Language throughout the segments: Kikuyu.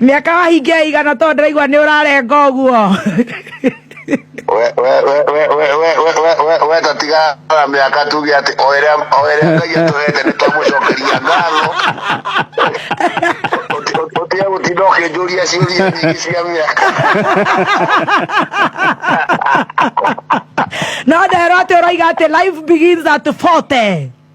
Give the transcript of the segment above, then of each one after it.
Mĩaka wahingia igana tondũ ndĩraigua nĩ ũrarenga ũguo. weta tigara mĩaka tuge atĩ o ĩrĩa o ĩrĩa ngai atũhete nĩ twamũcokeria ngatho ũtige gũtinda ũkĩnjũria ciũria nyingĩ cia mĩaka No nderwo atĩ ũroiga atĩ life begins at 40.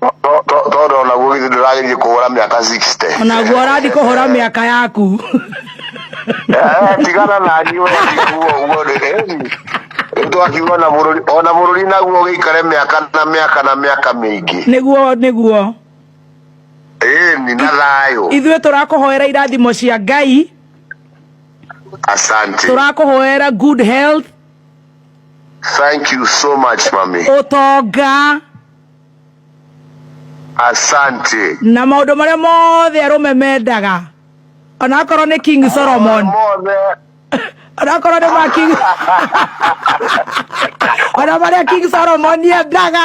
To- to- tondå onaguo githä ndå ragä kå hå ra mä aka onaguo ũrathiĩ kũhũra mĩaka yaku tigana nani we ndikuo guo rä twakiuga ona bå rå ri ona bå rå ri naguo gä ikare mä aka na mä aka na mä aka mä ingä nĩguo nĩguo ni na thayå ithuĩ tũrakũhoera irathimo cia ngai asante tũrakũhoera good health Thank you so much, mami. Utonga. Asante. Na maũndũ marĩa mothe arũme mendaga. Ona akorwo nĩ King Solomon. Mothe. Ona akorwo nĩ ma King. Ona marĩa King Solomon yendaga.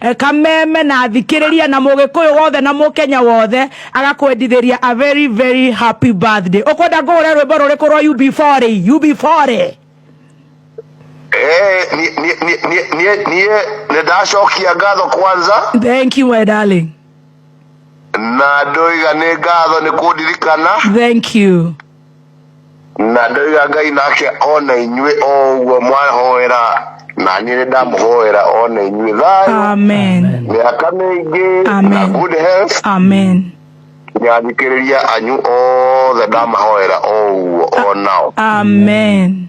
e, kameme na athikĩrĩria na mũgĩkũyũ wothe na mũkenya wothe agakwendithĩria a very very happy birthday ũkwenda ngũhũre rwĩmbo rũrĩkũ rwa ub4 ub4 Eh, nie- nie- nie- nie- nie- niĩ nĩ ndacokia ngatho kwanza thank you my darling na ndoiga nĩ ngatho nĩ kũndirikana thank you na ndoiga ngai nake ona inyuĩ o ũguo mwahoera na niĩ nĩ ndamũhoera ona inyuĩ thayũ amen mĩaka mĩingĩ na Amen. good health amen nyathikĩrĩria anyu othe ndamahoera o ũguo o nao amen